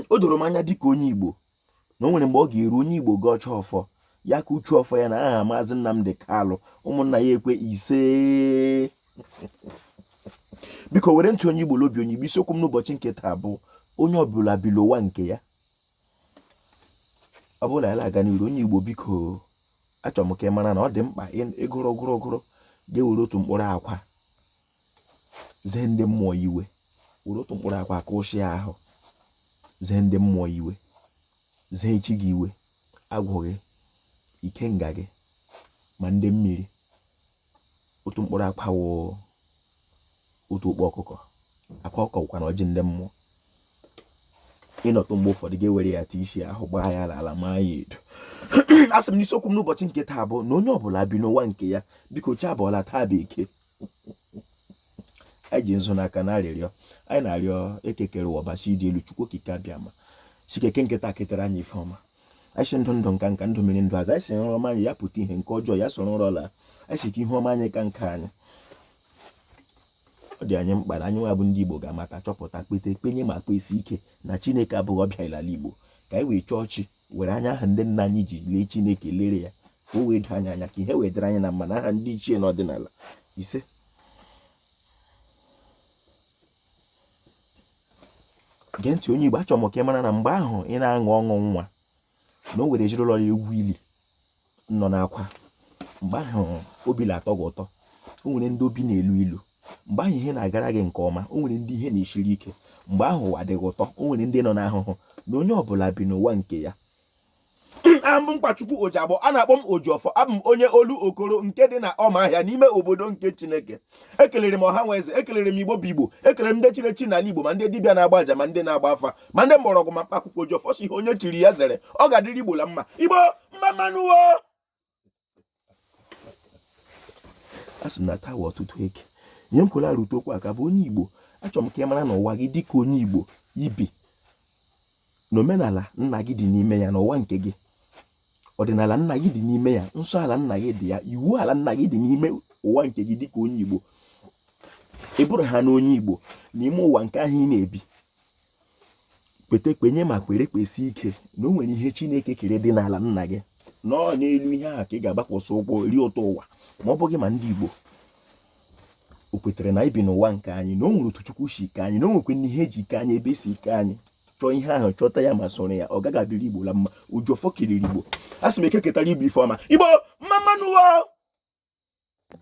o doro m anya dịka onye Igbo na o nwere mgbe ọ ga-eru onye Igbo gọchaa ọfọ ya akụchie ọfọ ya na aha maazị Nnamdi Kalụ ụmụnna ya ekwe ise biko were ntị onye Igbo lobi onye Igbo isiokwu m n'ụbọchị nke taa bụ onye ọbụla bi n'ụwa nke ya ọ bụrụ na ya na-aga n'iru onye Igbo biko achọrọ m ka ị mara na ọ dị mkpa ịgụrụ gụrụ gụrụ ga-ewere otu mkpụrụ akwa zee ndị mmụọ iwe were otu mkpụrụ akwa aka ụchịa ahụ zee ndị mmụọ iwe zee chi gị iwe agwụ gị ikenga gị ma ndị mmiri otu mkpụrụ akwa wụ otu ọkpa ọkụkọ akwa ọkụkọ bụkwa na ọjị ndị mmụọ ịnọtụ mgbe ụfọdụ ga-ewere ya tesịa ahụ gbaa ya n'ala maa ya edo a sị m na isiokwu m n'ụbọchị nke taa bụ na onye ọbụla bi n'ụwa nke ya biko chi abọọla taa bụ eke anyị ji nzu n'aka na arịrịọ anyị na-arịọ eke kere ụwa Ọbasị dị elu chukwu okike abịama sị ka eke nke taa ketere anyị ife ọma anyị sị ndụ ndụ nka nka ndụ mmiri ndụ azụ anyị sị nrọ ọma anyị ya pụta ihe nke ọjọọ ya soro nrọ laa anyị sị ka ihe ọma anyị ka nke anyị ọ dị anyị mkpa na anyị nwa bụ ndị Igbo ga-amata chọpụta kweta kwenye ma kwesi ike na Chineke abụghị ọbịa n'ala Igbo ka anyị wee chọọ chi were anya ahụ ndị nna anyị ji lee chineke lere ya ka o wee doo anyị anya ka ihe wee dịrị anyị na mma na aha ndị ichie n'ọdịnala ise gee ntị onye igbo achọrọ m ka ị mara na mgbe ahụ ị na-aṅụ ọṅụ nwa na o nwere ezinụlọ na-egwu ili nọ n'akwa mgbe ahụ obi na-atọ gị ụtọ o nwere ndị obi na-elu ilu mgbe ahụ ihe na-agara gị nke ọma o nwere ndị ihe na-esiri ike mgbe ahụ ụwa dị gị ụtọ o nwere ndị nọ n'ahụhụ na onye ọbụla bi n'ụwa nke ya abụ m Nkwachukwu Ojiagbọ a na-akpọ m Ojiọfọ abụ m onye Olokoro nke dị na ọma ahịa n'ime obodo nke Chineke ekelere m ọha na eze ekelere m igbo bụ igbo ekelere m ndị chiri echi n'ala igbo ma ndị dibịa na-agba aja ma ndị na-agba afa ma ndị mgbọrọgwụ ma mkpa akwụkwọ ji ọfọ sị ihe onye chiri ya zere ọ ga-adịrị igbo la mma igbo mma mma nụ o a sị m na taa ụtụtụ eke onye m kwere arụtụ okwu aka bụ onye igbo achọrọ m ka ị mara na ụwa gị dịka onye igbo i bi na omenala nna gị dị n'ime ya na ụwa nke gị ọdịnala nna gị dị n'ime ya nsọ ala nna gị dị ya iwu ala nna gị dị n'ime ụwa nke gị dịka onye Igbo ị bụrụ ha na onye Igbo n'ime ụwa nke ahụ ị na-ebi kweta kwenye ma kwere kwesi ike na o nwere ihe Chineke kere dị n'ala nna gị na ọ n'elu ihe ahụ ka ị ga-agbakwasị ụkwụ rie ụtọ ụwa ma ọ bụghị ma ndị Igbo o kwetara na ibi n'ụwa nke anyị na o nwere otu chukwu si kee anyị na o nwekwanụ ihe e ji kee anyị ebe e si kee anyị chọọ ihe ahụ chọta ya ma soro ya ọ gaghị adịrị igbo la mma Ojiọfọ kelere igbo a sị m eke ketara igbo ife ọma igbo mma mma nụ